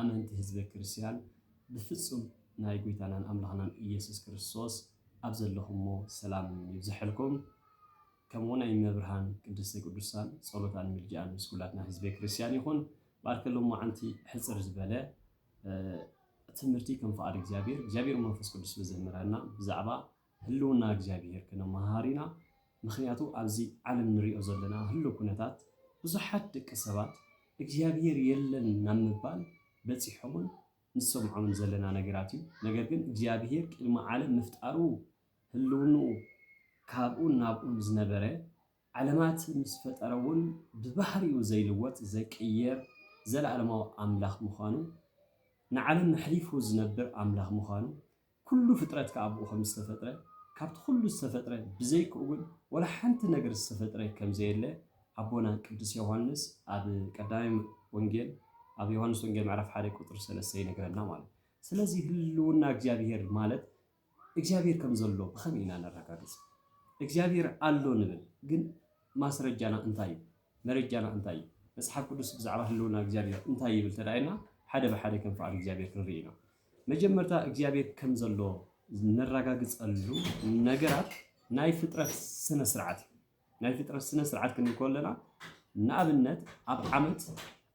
ኣመንቲ ህዝበ ክርስቲያን ብፍጹም ናይ ጎይታናን ኣምላኽናን እየሱስ ክርስቶስ ኣብ ዘለኹሞ ሰላም ይብዘሐልኩም ከምኡ ውን ናይ እመብርሃን ቅድስተ ቅዱሳን ጸሎታን ምልጃኣን ምስ ኩላትና ህዝበ ክርስቲያን ይኹን ባርከ ሎማዓንቲ ሕጽር ዝበለ ትምህርቲ ከም ፍቓድ እግዚኣብሔር እግዚኣብሔር መንፈስ ቅዱስ ብዘምህረና ብዛዕባ ህልውና እግዚኣብሄር ክንመሃሃር ኢና ምኽንያቱ ኣብዚ ዓለም ንሪኦ ዘለና ህሉው ኩነታት ብዙሓት ደቂ ሰባት እግዚኣብሄር የለን ናብ ምባል በፂሖምን ንሰምዖምን ዘለና ነገራት እዩ ነገር ግን እግዚኣብሄር ቅድሚ ዓለም ምፍጣሩ ህልውንኡ ካብኡን ናብኡን ዝነበረ ዓለማት ምስ ፈጠረ'ውን ብባህሪኡ ዘይልወጥ ዘይቅየር ዘለኣለማዊ ኣምላኽ ምዃኑ፣ ንዓለም መሕሊፉ ዝነብር ኣምላኽ ምዃኑ፣ ኩሉ ፍጥረት ከኣ ብኡ ከም ዝተፈጥረ፣ ካብቲ ኩሉ ዝተፈጥረ ብዘይክኡ ግን ወላ ሓንቲ ነገር ዝተፈጥረ ከም ዘየለ ኣቦና ቅዱስ ዮሃንስ ኣብ ቀዳማይ ወንጌል ኣብ ዮሃንስ ወንጌል ምዕራፍ ሓደ ቁጽሪ ሰለስተ ይነግረና ማለት እዩ። ስለዚ ህልውና እግዚኣብሔር ማለት እግዚኣብሔር ከም ዘሎ ብኸመይ ኢና ነረጋግጽ? እግዚኣብሔር ኣሎ ንብል ግን ማስረጃና እንታይ እዩ? መረጃና እንታይ እዩ? መጽሓፍ ቅዱስ ብዛዕባ ህልውና እግዚኣብሔር እንታይ ይብል ተዳኢልና ሓደ ብሓደ ከም ፍቓድ እግዚኣብሔር ክንርኢ ኢና። መጀመርታ እግዚኣብሔር ከም ዘሎ ነራጋግጸሉ ነገራት ናይ ፍጥረት ስነ ስርዓት እዩ። ናይ ፍጥረት ስነ ስርዓት ክንብል ከለና ንኣብነት ኣብ ዓመት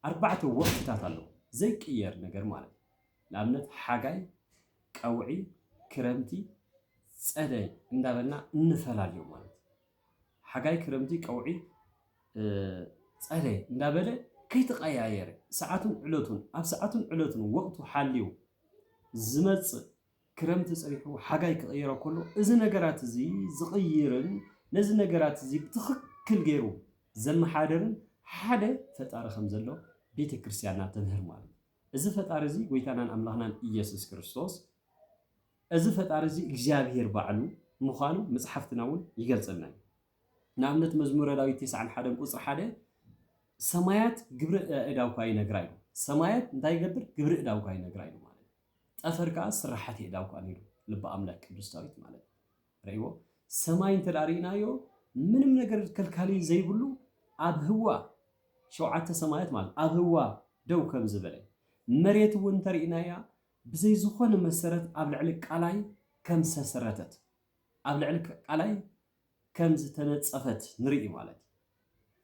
ኣርባዕተ ወቅትታት ኣለዉ ዘይቅየር ነገር ማለት እዩ። ንኣብነት ሓጋይ፣ ቀውዒ፣ ክረምቲ፣ ጸደይ እንዳበልና እንፈላልዮም ማለት እዩ። ሓጋይ፣ ክረምቲ፣ ቀውዒ፣ ጸደይ እንዳበለ ከይተቐያየረ ሰዓቱን ዕለቱን ኣብ ሰዓቱን ዕለቱን ወቕቱ ሓልዩ ዝመጽእ ክረምቲ ጸኒሑ ሓጋይ ክቕይሮ ከሎ እዚ ነገራት እዚ ዝቕይርን ነዚ ነገራት እዚ ብትኽክል ገይሩ ዘመሓደርን ሓደ ፈጣሪ ከም ዘሎ ቤተ ክርስቲያንና ተምህር ማለት እዩ። እዚ ፈጣሪ እዚ ጎይታናን ኣምላኽናን እየሱስ ክርስቶስ እዚ ፈጣሪ እዚ እግዚኣብሄር ባዕሉ ምዃኑ መጽሓፍትና እውን ይገልጸልና እዩ። ንኣብነት መዝሙረ ዳዊት ቴስዓን ሓደን ቁጽሪ ሓደ ሰማያት ግብሪ እዳውካ ይነግራ ኢሉ። ሰማያት እንታይ ይገብር? ግብሪ እዳውካ ይነግራ ኢሉ ማለት እዩ። ጠፈር ከዓ ስራሓት የእዳውካ ነይሩ ልቢ ኣምላክ ቅዱስ ዳዊት ማለት እዩ። ርእይዎ ሰማይ እንተ ርእናዮ ምንም ነገር ከልካሊ ዘይብሉ ኣብ ህዋ ሸውዓተ ሰማያት ማለት ኣብ ህዋ ደው ከም ዝበለ መሬት እውን እንተ ርእናያ ብዘይ ዝኾነ መሰረት ኣብ ልዕሊ ቃላይ ከም ዝተሰረተት ኣብ ልዕሊ ቃላይ ከም ዝተነጸፈት ንርኢ ማለት እዩ።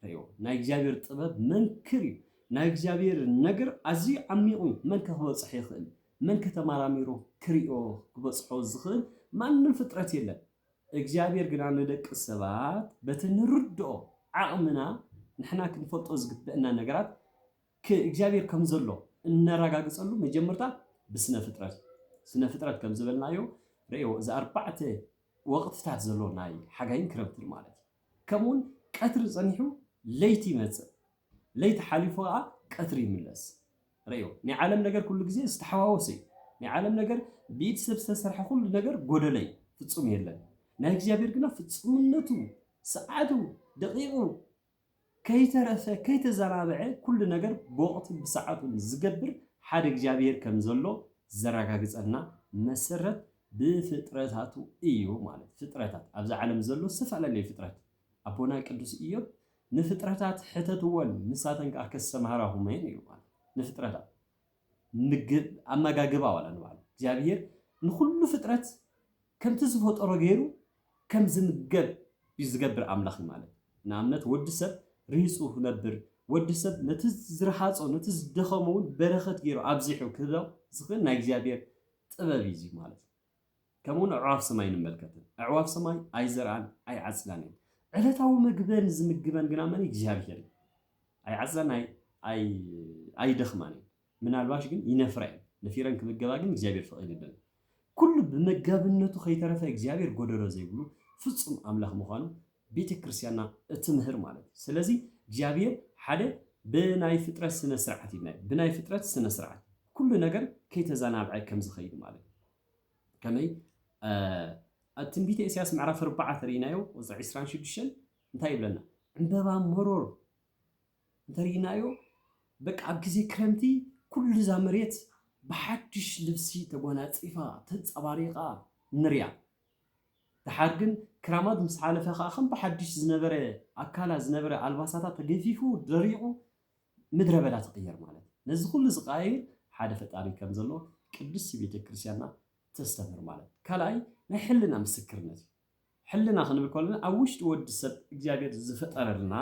ርእዮ ናይ እግዚኣብሔር ጥበብ መንክር እዩ ናይ እግዚኣብሔር ነገር ኣዝዩ ዓሚቕ እዩ መን ከ ክበጽሖ ይኽእል መን ከ ተማራሚሩ ክርእዮ ክበጽሖ ዝኽእል ማንም ፍጥረት የለን እግዚኣብሔር ግና ንደቂ ሰባት በቲ ንርድኦ ዓቕምና ንሕና ክንፈልጦ ዝግበእና ነገራት ክ እግዚኣብሔር ከም ዘሎ እነራጋግጸሉ መጀመርታ ብስነ ፍጥረት ስነ ፍጥረት ከም ዝበልናዮ ርእዮ እዚ ኣርባዕተ ወቕትታት ዘሎ ናይ ሓጋይን ክረምትን ማለት እዩ ከምኡውን ቀትሪ ጸኒሑ ለይቲ ይመጽእ፣ ለይቲ ሓሊፉ ከኣ ቀትሪ ይምለስ። ርእዮ፣ ናይ ዓለም ነገር ኩሉ ግዜ ዝተሓዋወሰ እዩ። ናይ ዓለም ነገር፣ ብኢድ ሰብ ዝተሰርሐ ኩሉ ነገር ጎደለ እዩ፣ ፍጹም የለን። ናይ እግዚኣብሔር ግና ፍጹምነቱ፣ ሰዓቱ፣ ደቂቁ፣ ከይተረፈ ከይተዘራበዐ ኩሉ ነገር ብወቕቱን ብሰዓቱን ዝገብር ሓደ እግዚኣብሄር ከም ዘሎ ዘረጋግጸልና መሰረት ብፍጥረታቱ እዩ ማለት ፍጥረታት ኣብዛ ዓለም ዘሎ ዝተፈላለዩ ፍጥረት ኣቦና ቅዱስ እዮብ ንፍጥረታት ሕተትወን ንሳተን ከኣ ከሰማህራኹመን እዩ ማለት ንፍጥረታት ምግብ ኣመጋግባ ዋላ ንባዕሉ እግዚኣብሄር ንኹሉ ፍጥረት ከምቲ ዝፈጠሮ ገይሩ ከም ዝምገብ እዩ ዝገብር ኣምላኽ እዩ ማለት ንኣብነት ወዲ ሰብ ርሂጹ ክነብር ወዲ ሰብ ነቲ ዝረሃጾ ነቲ ዝደኸሞ እውን በረኸት ገይሩ ኣብዚሑ ክህቦ ዝኽእል ናይ እግዚኣብሄር ጥበብ እዩ እዚ ማለት ከምኡውን ኣዕዋፍ ሰማይ ንመልከትን። ኣዕዋፍ ሰማይ ኣይዘርኣን ኣይዓጽዳን እየን። ዕለታዊ መግበን ዝምግበን ግና መን እግዚኣብሔር እዩ። ኣይዓጽዳን ኣይደኽማን እየን። ምናልባሽ ግን ይነፍራ እየን። ነፊረን ክምገባ ግን እግዚኣብሔር ፈቒዱለን። ኩሉ ብመጋብነቱ ከይተረፈ እግዚኣብሔር ጎደሎ ዘይብሉ ፍጹም ኣምላኽ ምዃኑ ቤተ ክርስቲያንና እትምህር ማለት እዩ። ስለዚ እግዚኣብሔር ሓደ ብናይ ፍጥረት ስነ ስርዓት ኢልናዮ ብናይ ፍጥረት ስነ ስርዓት ኩሉ ነገር ከይተዘናብዐ ከም ዝኸይድ ማለት እዩ። ከመይ ኣብ ትንቢተ ኢሳያስ ምዕራፍ ኣርባዓ ተርእይናዮ ቁፅሪ ዕስራን ሽዱሽተን እንታይ ይብለና? ዕምበባ መሮር እንተርእይናዮ በቃ ኣብ ግዜ ክረምቲ ኩሉ እዛ መሬት ብሓድሽ ልብሲ ተጓናፂፋ ተንፀባሪቓ ንሪያ። ደሓር ግን ክራማት ምስ ሓለፈ ከኣ ከም ብሓድሽ ዝነበረ ኣካላ ዝነበረ ኣልባሳታ ተገፊፉ ደሪቑ ምድረ በዳ ትቕየር ማለት እዩ። ነዚ ኩሉ ዝቐያይር ሓደ ፈጣሪ ከም ዘሎ ቅድስቲ ቤተ ክርስቲያንና ተስተምህር ማለት እዩ። ካልኣይ ናይ ሕልና ምስክርነት እዩ። ሕልና ክንብል ከለና ኣብ ውሽጢ ወዲ ሰብ እግዚኣብሔር ዝፈጠረልና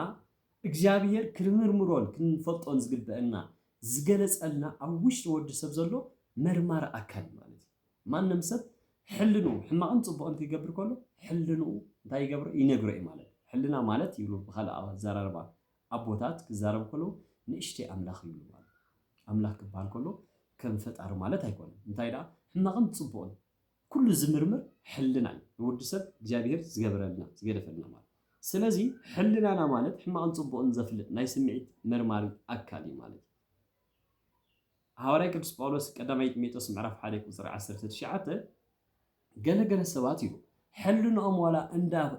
እግዚኣብሔር ክንምርምሮን ክንፈልጦን ዝግበአና ዝገለጸልና ኣብ ውሽጢ ወዲ ሰብ ዘሎ መርማሪ ኣካል ማለት እዩ። ማንም ሰብ ሕልንኡ ሕማቕን ጽቡቕን ክገብር ከሎ ሕልንኡ እንታይ ይገብሮ ይነግሮ እዩ ማለት እዩ። ሕልና ማለት ይብሉ ብኻልእ ኣዘራርባ ኣቦታት ክዛረቡ ከለዉ ንእሽተይ ኣምላኽ ይብሉ ማለት እዩ። ኣምላኽ ክበሃል ከሎ ከም ፈጣሪ ማለት ኣይኮነን እንታይ ደኣ ሕማቕን ጽቡቕን ኩሉ ዝምርምር ሕልና እዩ ንወዲ ሰብ እግዚኣብሄር ዝገበረልና ዝገደፈልና ማለት እዩ። ስለዚ ሕልናና ማለት ሕማቕን ጽቡቕን ዘፍልጥ ናይ ስምዒት መርማሪ ኣካል እዩ ማለት እዩ። ሃዋርያ ቅዱስ ጳውሎስ ቀዳማይ ጢሞቴዎስ ምዕራፍ ሓደ ቁጽሪ ዓሰርተ ትሽዓተ ገለ ገለ ሰባት እዩ ሕልንኦም ዋላ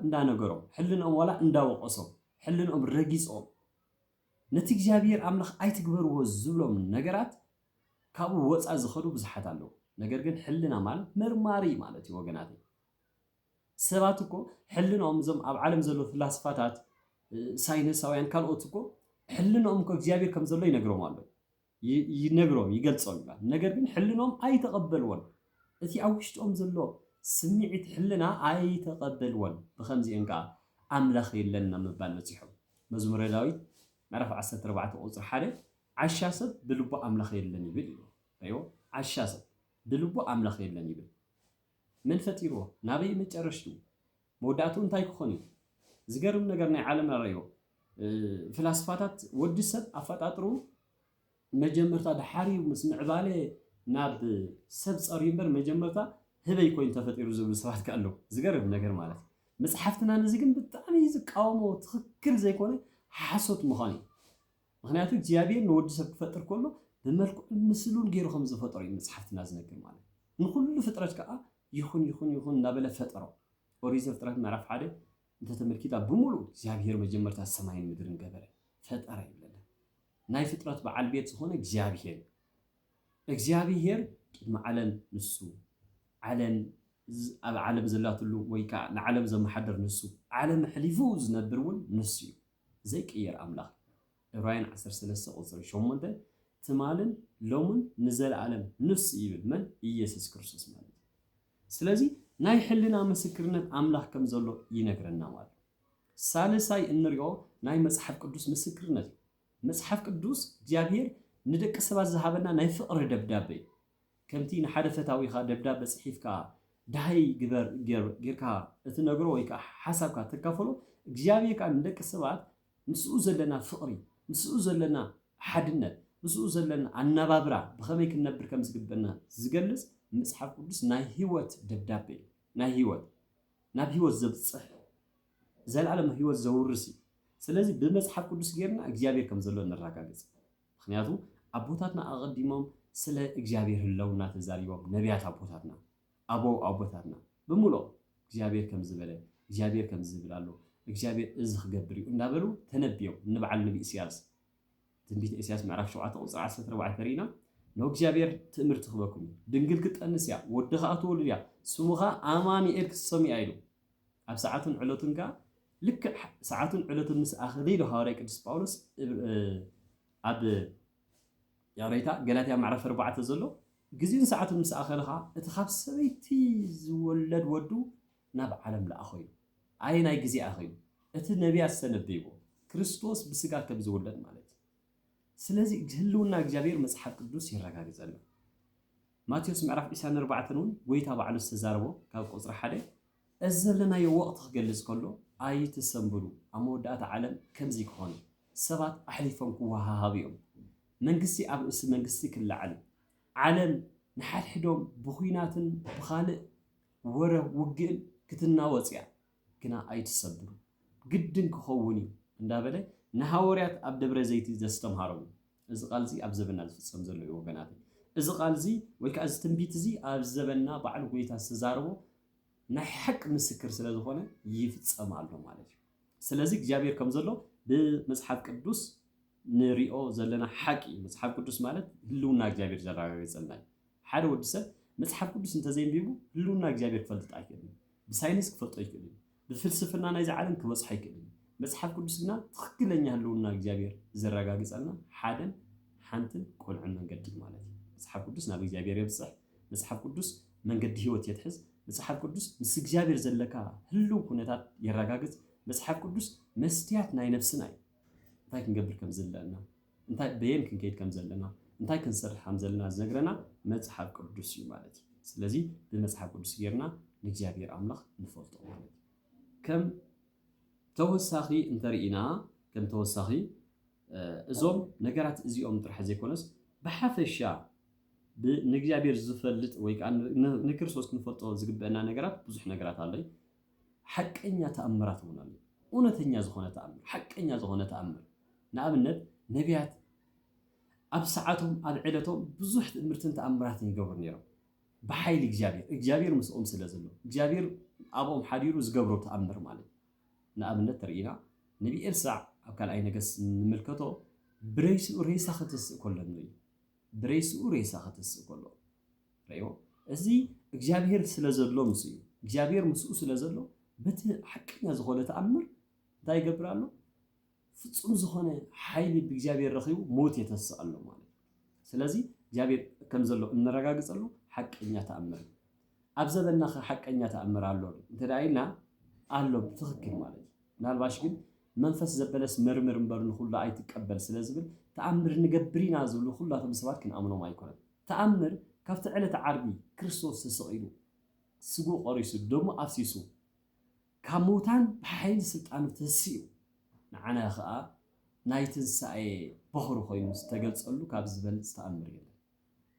እንዳነገሮም ሕልንኦም ዋላ እንዳወቐሶም ሕልንኦም ረጊጾም ነቲ እግዚኣብሔር ኣምላኽ ኣይትግበርዎ ዝብሎም ነገራት ካብኡ ወጻእ ዝኸዱ ብዙሓት ኣለዉ። ነገር ግን ሕልና ማለት መርማሪ ማለት እዩ ወገናተይ። ሰባት እኮ ሕልንኦም እዞም ኣብ ዓለም ዘለዉ ፍላስፋታት ሳይንሳውያን ካልኦት እኮ ሕልንኦም እኮ እግዚኣብሔር ከም ዘሎ ይነግሮም ኣሎ። ይነግሮም ይገልጾም ይባል ነገር ግን ሕልኖም ኣይተቀበልዎን እቲ ኣብ ውሽጦም ዘሎ ስሚዒት ሕልና ኣይተቀበልዎን ብከምዚኤን ከኣ ኣምላክ የለን ናብ ምባል በጺሖም መዝሙረ ዳዊት ምዕራፍ ዓሰርተ ኣርባዕተ ቁጽሪ ሓደ ዓሻ ሰብ ብልቡ ኣምላክ የለን ይብል ይብሎ ኣዮ ዓሻ ሰብ ብልቡ ኣምላክ የለን ይብል መን ፈጢርዎ ናበይ መጨረሽትኡ መወዳእትኡ እንታይ ክኾን እዩ? ዝገርም ነገር ናይ ዓለም ኣረዮ ፍላስፋታት ወዲ ሰብ ኣፈጣጥሩ መጀመርታ ድሓርዩ ምስ ምዕባለ ናብ ሰብ ጸርዩ እምበር መጀመርታ ህበይ ኮይኑ ተፈጢሩ ዝብሉ ሰባት ከ ኣለዉ። ዝገርም ነገር ማለት እዩ። መጽሓፍትና ነዚ ግን ብጣዕሚ ዝቃወሞ ትኽክል ዘይኮነ ሓሶት ምዃኑ እዩ። ምኽንያቱ እግዚኣብሔር ንወዲ ሰብ ክፈጥር ከሎ ብመልክዑን ምስሉን ገይሩ ከም ዝፈጠሮ እዩ መጽሓፍትና ዝነግር ማለት ንኹሉ ፍጥረት ከኣ ይኹን ይኹን ይኹን እናበለ ፈጠሮ ኦሪት ዘፍጥረት ምዕራፍ ሓደ እንተተመልኪታ ብምሉእ እግዚኣብሔር መጀመርታ ሰማይን ምድርን ገበረ ፈጠረ ይብለና ናይ ፍጥረት በዓል ቤት ዝኾነ እግዚኣብሔር እግዚኣብሔር ቅድሚ ዓለም ንሱ ዓለም ኣብ ዓለም ዘላትሉ ወይ ከዓ ንዓለም ዘመሓደር ንሱ ዓለም ሕሊፉ ዝነብር እውን ንሱ እዩ ዘይቅየር ኣምላኽ እዩ። ዕብራውያን ዓሰርተ ሰለስተ ቁጽሪ ሸሞንተ ትማልን ሎምን ንዘለኣለም ንሱ ይብል መን ኢየሱስ ክርስቶስ ማለት እዩ። ስለዚ ናይ ሕልና ምስክርነት ኣምላኽ ከም ዘሎ ይነግረና ማለት እዩ። ሳልሳይ እንሪኦ ናይ መጽሓፍ ቅዱስ ምስክርነት እዩ። መጽሓፍ ቅዱስ እግዚኣብሔር ንደቂ ሰባት ዝሃበና ናይ ፍቕሪ ደብዳበ እዩ። ከምቲ ንሓደ ፈታዊኻ ደብዳበ ጽሒፍካ ደሃይ ግበር ጌርካ እትነግሮ ወይ ከኣ ሓሳብካ እተካፍሎ፣ እግዚኣብሄር ከኣ ንደቂ ሰባት ምስኡ ዘለና ፍቕሪ፣ ምስኡ ዘለና ሓድነት፣ ምስኡ ዘለና ኣነባብራ ብኸመይ ክንነብር ከም ዝግበእና ዝገልጽ መጽሓፍ ቅዱስ ናይ ህይወት ደብዳበ እዩ። ናይ ህይወት ናብ ህይወት ዘብጽሕ ዘልኣለማዊ ህይወት ዘውርስ እዩ። ስለዚ ብመጽሓፍ ቅዱስ ጌርና እግዚኣብሄር ከም ዘሎ ነራጋግጽ። ምክንያቱ ኣቦታትና ኣቀዲሞም ስለ እግዚኣብሔር ህለውና ተዛሪቦም ነብያት ኣቦታትና ኣበው ኣቦታትና ብምልኦም እግዚኣብሔር ከምዚ በለ እግዚኣብሔር ከምዚ ዝብል ኣሎ እግዚኣብሔር እዚ ክገብር እዩ እንዳበሉ ተነብዮም ንብዓል ነቢ እስያስ ትንቢተ እስያስ ምዕራፍ ሸውዓተ ቁፅሪ ዓሰርተ ኣርባዕተ ተሪኢና ን እግዚኣብሔር ትእምርቲ ክበኩም እዩ ድንግል ክትጠንስ እያ ወዲ ከኣ ትወልድ እያ ስሙ ከኣ ኣማኒኤል ክትሰምዩ እያ ኢሉ ኣብ ሰዓቱን ዕለቱን ከኣ ልክዕ ሰዓቱን ዕለቱን ምስ ኣኸለ ኢሉ ሃዋርያ ቅዱስ ጳውሎስ ኣብ ያሬታ ገላትያ ምዕራፍ ኣርባዕተ ዘሎ ግዜኡን ሰዓቱን ምስ ኣኸለ ከኣ እቲ ካብ ሰበይቲ ዝወለድ ወዱ ናብ ዓለም ለኣኾ ኢሉ ኣየናይ ግዜ ኣኸዩ እቲ ነቢያት ዝተነበይዎ ክርስቶስ ብስጋ ከም ዝውለድ ማለት እዩ ስለዚ ህልውና እግዚኣብሄር መጽሓፍ ቅዱስ የረጋግጸልና። ማቴዎስ ምዕራፍ ዒስራን ኣርባዕተን እውን ጐይታ ባዕሉ ዝተዛረቦ ካብ ቁጽሪ ሓደ እዚ ዘለናዮ ወቕቲ ክገልጽ ከሎ ኣይትሰንብዱ ኣብ መወዳእታ ዓለም ከምዚ ክኾን ሰባት ኣሕሊፎም ክወሃሃቡ እዮም መንግስቲ ኣብ ርእሲ መንግስቲ ክለዓል ዓለም ንሓድሕዶም ብኹናትን ብኻልእ ወረ ውግእን ክትናወጽ እያ። ግና ኣይትሰብሩ፣ ግድን ኪኸውን እዩ እንዳበለ ንሃወርያት ኣብ ደብረ ዘይቲ ዘስተምሃሮም እዩ። እዚ ቃል'ዚ ኣብ ዘበንና ዝፍጸም ዘሎ እዩ ወገናተይ። እዚ ቃል'ዚ ወይ ከኣ እዚ ትንቢት'ዚ ኣብ ዘበንና ባዕሉ ጎይታ ዝተዛረቦ ናይ ሓቂ ምስክር ስለ ዝኾነ ይፍጸም ኣሎ ማለት እዩ። ስለዚ እግዚኣብሔር ከም ዘሎ ብመጽሓፍ ቅዱስ ንሪኦ ዘለና ሓቂ እዩ። መጽሓፍ ቅዱስ ማለት ህልውና እግዚኣብሔር ዘረጋግጸልና እዩ። ሓደ ወዲ ሰብ መጽሓፍ ቅዱስ እንተ ዘየንቢቡ ህልውና እግዚኣብሔር ክፈልጥ ኣይክእልን እዩ። ብሳይንስ ክፈልጦ ኣይክእልን እዩ። ብፍልስፍና ናይዚ ዓለም ክበጽሖ ኣይክእልን እዩ። መጽሓፍ ቅዱስ ግና ትኽክለኛ ህልውና እግዚኣብሔር ዘረጋግጸልና ሓደን ሓንትን ቅኑዕን መንገዲ እዩ ማለት እዩ። መጽሓፍ ቅዱስ ናብ እግዚኣብሔር የብጽሕ፣ መጽሓፍ ቅዱስ መንገዲ ሕይወት የትሕዝ፣ መጽሓፍ ቅዱስ ምስ እግዚኣብሔር ዘለካ ህልው ኩነታት የረጋግጽ፣ መጽሓፍ ቅዱስ መስትያት ናይ ነፍስና እዩ እንታይ ክንገብር ከም ዘለና እንታይ በየን ክንከይድ ከም ዘለና እንታይ ክንሰርሕ ከም ዘለና ዝነግረና መጽሓፍ ቅዱስ እዩ ማለት እዩ። ስለዚ ብመጽሓፍ ቅዱስ ጌርና ንእግዚኣብሔር ኣምላኽ ንፈልጦ ማለት እዩ። ከም ተወሳኺ እንተርኢና ከም ተወሳኺ እዞም ነገራት እዚኦም ጥራሕ ዘይኮነስ ብሓፈሻ ንእግዚኣብሔር ዝፈልጥ ወይ ከዓ ንክርስቶስ ክንፈልጦ ዝግበአና ነገራት ብዙሕ ነገራት ኣሎ። ሓቀኛ ተኣምራት እውን ኣሎ። እውነተኛ ዝኾነ ተኣምር፣ ሓቀኛ ዝኾነ ተኣምር፣ ንኣብነት ነብያት ኣብ ሰዓቶም ኣብ ዕለቶም ብዙሕ ትእምርትን ተኣምራትን ይገብሩ ነይሮም። ብሓይሊ እግዚኣብሔር፣ እግዚኣብሔር ምስኦም ስለ ዘሎ፣ እግዚኣብሔር ኣብኦም ሓዲሩ ዝገብሮ ተኣምር ማለት እዩ። ንኣብነት ተርእይና ነቢ ኤልሳዕ ኣብ ካልኣይ ነገስ ንምልከቶ ብረይስኡ ሬሳ ከተስእ ከሎ ንርኢ። ብረይስኡ ሬሳ ከተስእ ከሎ ረእዎ እዚ እግዚኣብሔር ስለ ዘሎ ምስ እዩ እግዚኣብሔር ምስኡ ስለ ዘሎ በቲ ሓቀኛ ዝኾነ ተኣምር እንታይ ይገብር ኣሎ ፍጹም ዝኾነ ሓይሊ ብእግዚኣብሔር ረኺቡ ሞት የተስእ ኣሎ ማለት እዩ ስለዚ እግዚኣብሔር ከም ዘሎ እንረጋግጸሉ ሓቀኛ ተኣምር እዩ ኣብ ዘበና ከ ሓቀኛ ተኣምር ኣሎ እንተ ኢልና ኣሎ ብትኽክል ማለት እዩ ምናልባሽ ግን መንፈስ ዘበለስ መርምር እምበር ንኹሉ ኣይትቀበል ስለ ዝብል ተኣምር ንገብር ኢና ዝብሉ ኩላቶም ሰባት ክንኣምኖም ኣይኮነን ተኣምር ካብቲ ዕለተ ዓርቢ ክርስቶስ ተሰቒሉ፣ ስግኡ ቆሪሱ፣ ደሙ ኣፍሲሱ፣ ካብ ምውታን ብሓይሊ ስልጣኑ ተንሲኡ፣ ንዓና ከኣ ናይ ትንሳኤ በኹሪ ኮይኑ ዝተገልጸሉ ካብዚ ዝበልጽ ተኣምር የለን።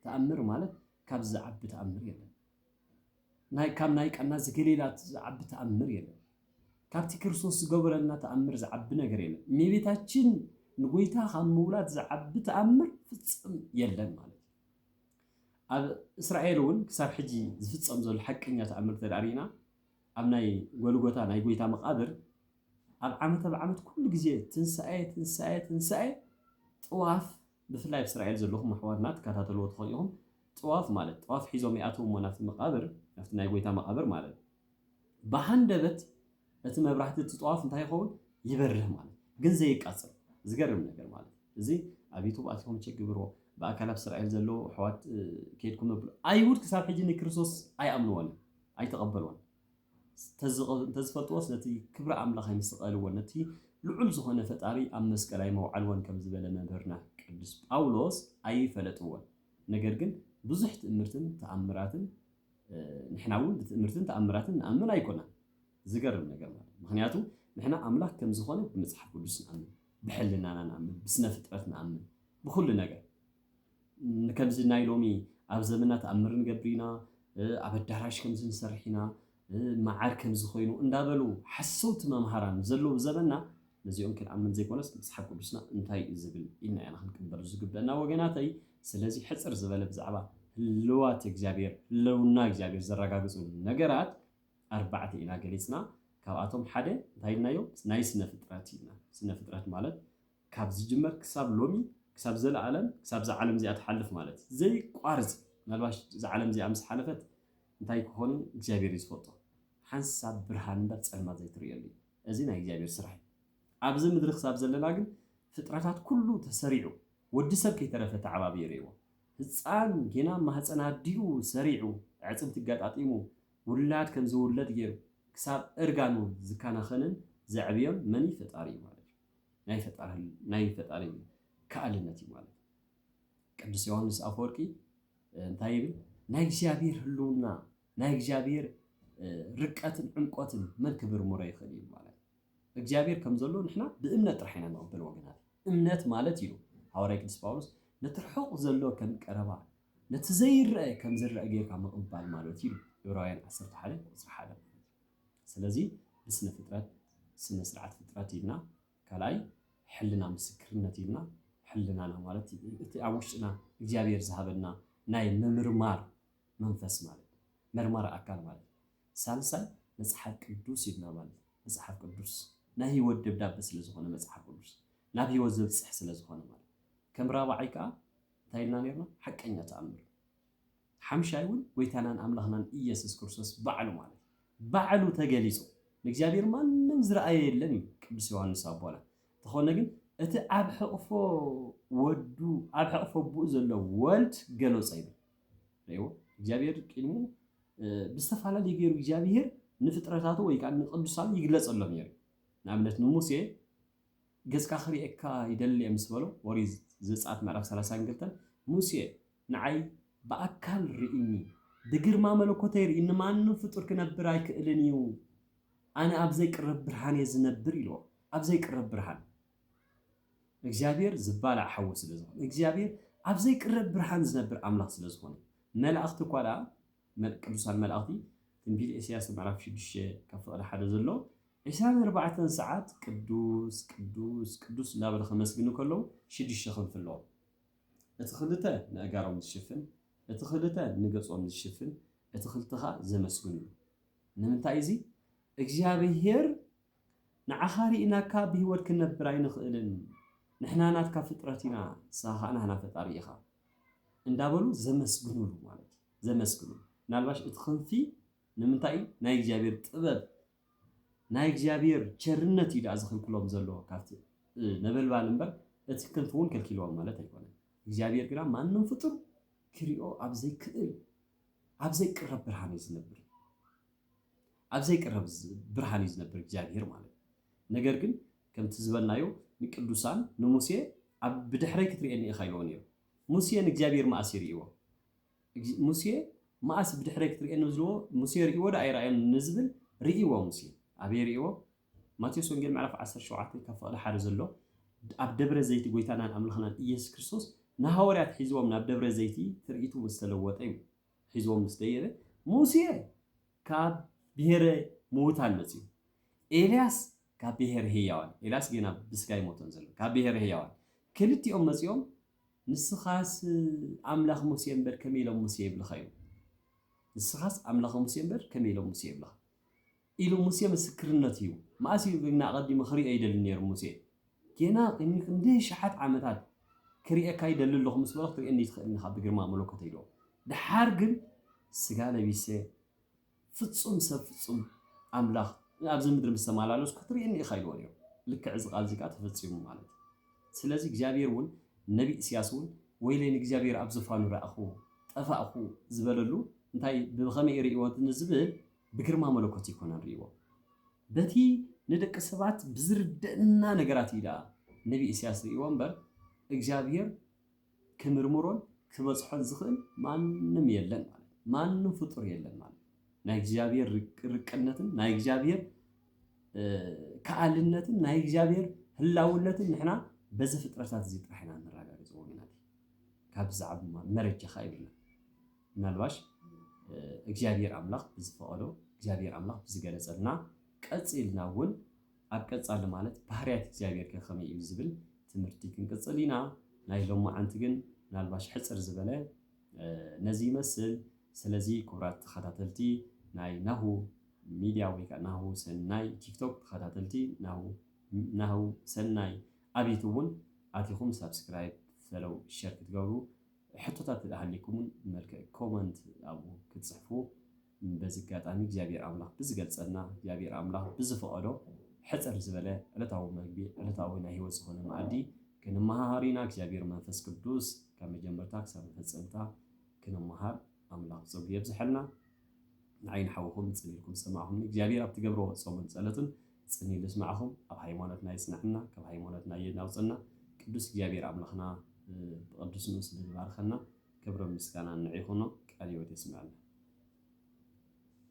ተኣምር ማለት ካብዚ ዝዓቢ ተኣምር የለን። ናይ ካብ ናይ ቃና ዘገሊላ ዝዓቢ ተኣምር የለን ካብቲ ክርስቶስ ዝገበረልና ተኣምር ዝዓቢ ነገር የለን እሜቤታችን ንጎይታ ካብ ምውላድ ዝዓቢ ተኣምር ፍጽም የለን ማለት ኣብ እስራኤል እውን ክሳብ ሕጂ ዝፍፀም ዘሎ ሓቀኛ ተኣምር ተዳሪና ኣብ ናይ ጎልጎታ ናይ ጎይታ መቃብር ኣብ ዓመት ኣብ ዓመት ኩሉ ግዜ ትንሳኤ ትንሳኤ ትንሳኤ ጥዋፍ ብፍላይ ኣብ እስራኤል ዘለኹም ኣሕዋትና ትከታተልዎ ትኾኑ ኢኹም ጥዋፍ ማለት ጥዋፍ ሒዞም ይኣትው እሞ ናብቲ መቃብር ናብቲ ናይ ጎይታ መቃብር ማለት ብሃንደበት እቲ መብራህቲ እቲ ጥዋፍ እንታይ ይኸውን ይበርህ ማለት ግን ዘይቃጽል ዝገርም ነገር ማለት እዚ ኣብ ዩቱብ ኣትኹም ቸክ ግብርዎ ብኣካል ኣብ እስራኤል ዘለዉ ኣሕዋት ከድኩም ነብሉ ኣይሁድ ክሳብ ሕጂ ንክርስቶስ ኣይኣምንዎን ኣይተቐበልዎን እንተዝፈልጥዎ ስለቲ ክብሪ ኣምላኽ ኣይምሰቀልዎን ነቲ ልዑል ዝኾነ ፈጣሪ ኣብ መስቀል ኣይመውዓልዎን ከም ዝበለ መምህርና ቅዱስ ጳውሎስ ኣይፈለጥዎን ነገር ግን ብዙሕ ትእምርትን ተኣምራትን ንሕና እውን ብትእምርትን ተኣምራትን ንኣምን ኣይኮናን ዝገርም ነገር ማለት ምክንያቱ ንሕና ኣምላክ ከም ዝኾነ ብመጽሓፍ ቅዱስ ንኣምን ብሕልናና ንኣምን ብስነ ፍጥረት ንኣምን ብኩሉ ነገር ንከምዚ ናይ ሎሚ ኣብ ዘመና ተኣምር ንገብር ኢና፣ ኣብ ኣዳራሽ ከምዚ ንሰርሕ ኢና፣ መዓር ከምዚ ኮይኑ እንዳበሉ ሓሰውቲ መምሃራን ዘለዉ ዘበንና ነዚኦም ክንኣምን ዘይኮነስ መጽሓፍ ቅዱስና እንታይ እዩ ዝብል ኢልና ኢና ክንቅበል ዝግበእና ወገናተይ ስለዚ ሕጽር ዝበለ ብዛዕባ ህልዋት እግዚኣብሔር ህለውና እግዚኣብሔር ዘረጋግጹ ነገራት ኣርባዕተ ኢና ገሊጽና ካብኣቶም ሓደ እንታይ ኢልናዮ ናይ ስነ ፍጥረት ኢልና ስነ ፍጥረት ማለት ካብ ዝጅመር ክሳብ ሎሚ ክሳብ ዘለኣለም ክሳብ እዛ ዓለም እዚኣ ትሓልፍ ማለት ዘይቋርጽ ምናልባሽ እዛ ዓለም እዚኣ ምስ ሓለፈት እንታይ ክኾን እግዚኣብሔር እዩ ዝፈልጦ ሓንሳብ ብርሃን እምበር ጸልማት ዘይትርእየሉ እዩ እዚ ናይ እግዚኣብሔር ስራሕ እዩ ኣብዚ ምድሪ ክሳብ ዘለና ግን ፍጥረታት ኩሉ ተሰሪዑ ወዲ ሰብ ከይተረፈ ተዓባብዩ ርእይዎ ህጻን ጌና ማህጸን ኣዲኡ ሰሪዑ ኣዕጽምቲ ኣጋጣጢሙ ውላድ ከም ዝውለድ ገይሩ ክሳብ እርጋኑ ዝካናኸንን ዘዕብዮን መን እዩ ፈጣሪ እዩ ማለት እዩ ናይ ፈጣሪ ናይ ፈጣሪ ከኣልነት እዩ ማለት እዩ። ቅዱስ ዮሐንስ ኣፈወርቂ እንታይ ይብል? ናይ እግዚኣብሔር ህልውና ናይ እግዚኣብሔር ርቀትን ዕምቆትን መን ክምርምሮ ይኽእል እዩ ማለት እግዚኣብሔር ከም ዘሎ ንሕና ብእምነት ጥራሕ ኢና ንቕበል ወገናት እምነት ማለት እዩ ሃዋርያ ቅዱስ ጳውሎስ ነቲ ርሑቕ ዘሎ ከም ቀረባ ነቲ ዘይረአ ከም ዝረአ ጌርካ ምቕባል ማለት እዩ ዕብራውያን 11 ቁፅሪ ሓደ ስለዚ ብስነ ፍጥረት ስነ ስርዓት ፍጥረት ኢልና ካልኣይ ሕልና ምስክርነት ኢልና ሕልናና ማለት እቲ ኣብ ውሽጥና እግዚኣብሔር ዝሃበና ናይ ምምርማር መንፈስ ማለት እዩ መርማሪ ኣካል ማለት እዩ ሳልሳይ መጽሓፍ ቅዱስ ኢልና ማለት እዩ መጽሓፍ ቅዱስ ናይ ህይወት ደብዳቤ ስለ ዝኾነ መጽሓፍ ቅዱስ ናብ ህይወት ዘብጽሕ ስለ ዝኾነ ማለት ከም ራብዓይ ከዓ እንታይ ኢልና ነርና ሓቀኛ ተኣምር ሓምሻይ እውን ጎይታናን ኣምላኽናን ኢየሱስ ክርስቶስ ባዕሉ ማለት እዩ። ባዕሉ ተገሊጹ። ንእግዚኣብሔር ማንም ዝረኣዮ የለን እዩ ቅዱስ ዮሐንስ ኣቦና። እንተኾነ ግን እቲ ኣብ ሕቕፎ ወዱ ኣብ ሕቕፎ ኣቦኡ ዘሎ ወልድ ገሎጸ ይብል። ርእይዎ እግዚኣብሔር ቅድሙ ብዝተፈላለዩ ገይሩ እግዚኣብሔር ንፍጥረታቱ ወይ ከዓ ንቅዱሳኑ ይግለጸሎም ነይሩ። ንኣብነት ንሙሴ ገጽካ ክርእየካ ይደሊ ምስ በሎ ኦሪት ዘጸአት ምዕራፍ 32 ሙሴ ንዓይ ብኣካል ርኢኒ ብግርማ መለኮተይ ርኢኒ ማንም ፍጡር ክነብር ኣይክእልን እዩ ኣነ ኣብ ዘይቅረብ ብርሃን እየ ዝነብር ኢልዎ ኣብ ዘይቅረብ ብርሃን እግዚኣብሔር ዝባላዕ ሓዊ ስለ ዝኾነ እግዚኣብሔር ኣብ ዘይቅረብ ብርሃን ዝነብር ኣምላኽ ስለ ዝኾነ መላእኽቲ እኳ ደኣ ቅዱሳን መላእኽቲ ትንቢት ኤስያስ ምዕራፍ 6 ካብ ፍቕዲ ሓደ ዘሎ ዕስራን ኣርባዕተን ሰዓት ቅዱስ ቅዱስ ቅዱስ እንዳበለ ከመስግኑ ከለዉ ሽዱሽተ ክንፊ ኣለዎም እቲ ክልተ ነእጋሮም ዝሽፍን እቲ ክልተ ንገጾም ዝሽፍን እቲ ክልተኻ ዘመስግንሉ ንምንታይ እዚ እግዚኣብሄር ንዓኻ ሪኢናካ ብሂወት ክንነብር ኣይንኽእልን ንሕና ናትካ ፍጥረት ኢና ንስኻ ከኣ ናህና ፈጣሪ ኢኻ እንዳበሉ ዘመስግንሉ ማለት እዩ ዘመስግንሉ ምናልባሽ እቲ ክንፊ ንምንታይ እዩ ናይ እግዚኣብሄር ጥበብ ናይ እግዚኣብሔር ቸርነት እዩ ድኣ ዝኽልክሎም ዘሎ ካብቲ ነበልባል እምበር እቲ ክንፍ እውን ከልኪልዎም ማለት ኣይኮነን እግዚኣብሔር ግና ማንም ፍጡር ክሪኦ ኣብ ዘይክእል ኣብ ዘይቅረብ ብርሃን እዩ ዝነብር ኣብ ዘይቅረብ ብርሃን እዩ ዝነብር እግዚኣብሔር ማለት ነገር ግን ከምቲ ዝበልናዮ ንቅዱሳን ንሙሴ ኣብ ብድሕረይ ክትርእየኒ ኢኻ ኢልዎ ነይሩ ሙሴ ንእግዚኣብሔር መኣስ ይርእይዎ እግዚእ ሙሴ ማኣስ ብድሕረይ ክትሪኤኒ ብዝብልዎ ሙሴ ሪኢዎ ዶ ኣይራኣዮን ንዝብል ሪኢዎ ሙሴ ኣበይ ሪኢዎ ማቴዎስ ወንጌል ምዕራፍ ዓሰርተ ሸውዓተ ካብ ፍቅዲ ሓደ ዘሎ ኣብ ደብረ ዘይቲ ጎይታናን ኣምላክናን እየሱስ ክርስቶስ ንሃወርያት ሒዝዎም ናብ ደብረ ዘይቲ ትርኢቱ ምስ ተለወጠ እዩ ሒዝዎም ምስ ደየበ ሙሴ ካብ ብሄረ ምዉታን መጺኡ ኤልያስ ካብ ብሄረ ህያዋን ኤልያስ ጌና ብስጋ ይሞቶን ዘሎ ካብ ብሄረ ህያዋን ክልቲኦም መጺኦም ንስኻስ ኣምላኽ ሙሴ እምበር ከመይ ኢሎም ሙሴ ይብልኻ ኢሉ። ንስኻስ ኣምላኽ ሙሴ እምበር ከመይ ኢሎም ሙሴ ይብልኻ ኢሉ ሙሴ ምስክርነት ሂቡ። መኣስ እዩ ግና ኣቐዲሙ ክርእዮ ይደሊ ነይሩ ሙሴ? ጌና ቅድሚ ክንደይ ኣሽሓት ዓመታት ክርእየካ ይደሊ ኣለኹ ምስ በሎ ክትርእየኒ ኣይትኽእልን ኢኻ ብግርማ መለኮተይ ኢልዎ። ደሓር ግን ስጋ ለቢሰ ፍጹም ሰብ ፍጹም ኣምላኽ ኣብዚ ምድሪ ምስ ተመላለሱ ክትርእየኒ ኢኻ ኢልዎ ነይሩ። ልክዕ እዚ ቃል እዚ ከኣ ተፈጺሙ ማለት እዩ። ስለዚ እግዚኣብሄር እውን ነቢ ኢስያስ እውን ወይለይ ንእግዚኣብሄር ኣብ ዙፋኑ ረኣኹ ጠፋእኹ ዝበለሉ እንታይ እዩ ብኸመይ እዩ ርእይዎ ንዝብል ብግርማ መለኮት ኣይኮነን ርእይዎ በቲ ንደቂ ሰባት ብዝርደእና ነገራት እዩ ደኣ ነቢ ኢስያስ ርእይዎ እምበር እግዚኣብሄር ክምርምሮን ክበጽሖን ዝኽእል ማንም የለን ማለት እዩ። ማንም ፍጡር የለን ማለት እዩ። ናይ እግዚኣብሔር ርቅነትን ናይ እግዚኣብሔር ከኣልነትን ናይ እግዚኣብሔር ህላውነትን ንሕና በዚ ፍጥረታት እዚ ጥራሕ ኢና ነረጋግጽ ወገናት ካብ ዛዕባ መረጃ ኸ ይብልና ምናልባሽ እግዚኣብሔር ኣምላኽ ብዝፈቐዶ እግዚኣብሔር ኣምላኽ ብዝገለጸልና ቀጺልና እውን ኣብ ቀጻሊ ማለት ባህርያት እግዚኣብሔርከ ከመይ እዩ ዝብል ትምህርቲ ክንቅጽል ኢና። ናይ ሎማዓንቲ ግን ምናልባሽ ሕጽር ዝበለ ነዚ ይመስል። ስለዚ ክቡራት ተኸታተልቲ ናይ ናሁ ሚድያ ወይ ከኣ ናሁ ሰናይ ቲክቶክ ተኸታተልቲ ናሁ ናሁ ሰናይ ኣብ ዩቱብ እውን ኣቲኹም ሳብስክራይብ ፈለው ሸር ክትገብሩ ሕቶታት ተደሃሊኩም እውን ብመልክዕ ኮመንት ኣብኡ ክትጽሕፉ በዚ ኣጋጣሚ እግዚኣብሔር ኣምላኽ ብዝገልጸልና እግዚኣብሔር ኣምላኽ ብዝፈቐዶ ሕጽር ዝበለ ዕለታዊ መግቢ ዕለታዊ ናይ ሕይወት ዝኾነ መኣዲ ክንመሃሃር ኢና እግዚኣብሔር መንፈስ ቅዱስ ካብ መጀመርታ ክሳብ መፈጸምታ ክንመሃር ኣምላኽ ጸጉ የብዝሐልና ንዓይ ንሓውኹም ጽን ኢልኩም ዝሰማዕኹምኒ እግዚኣብሔር ኣብ ትገብሮ ጾምን ጸሎትን ጽን ኢሉ ዝስማዕኹም ኣብ ሃይማኖትና ይጽናዕና ካብ ሃይማኖትና የናውጽና ቅዱስ እግዚኣብሔር ኣምላኽና ብቅዱስ ንኡስ ስለዝባርኸና ክብርን ምስጋናን ንዒኹኖ ቃል ህይወት የስመዐልና።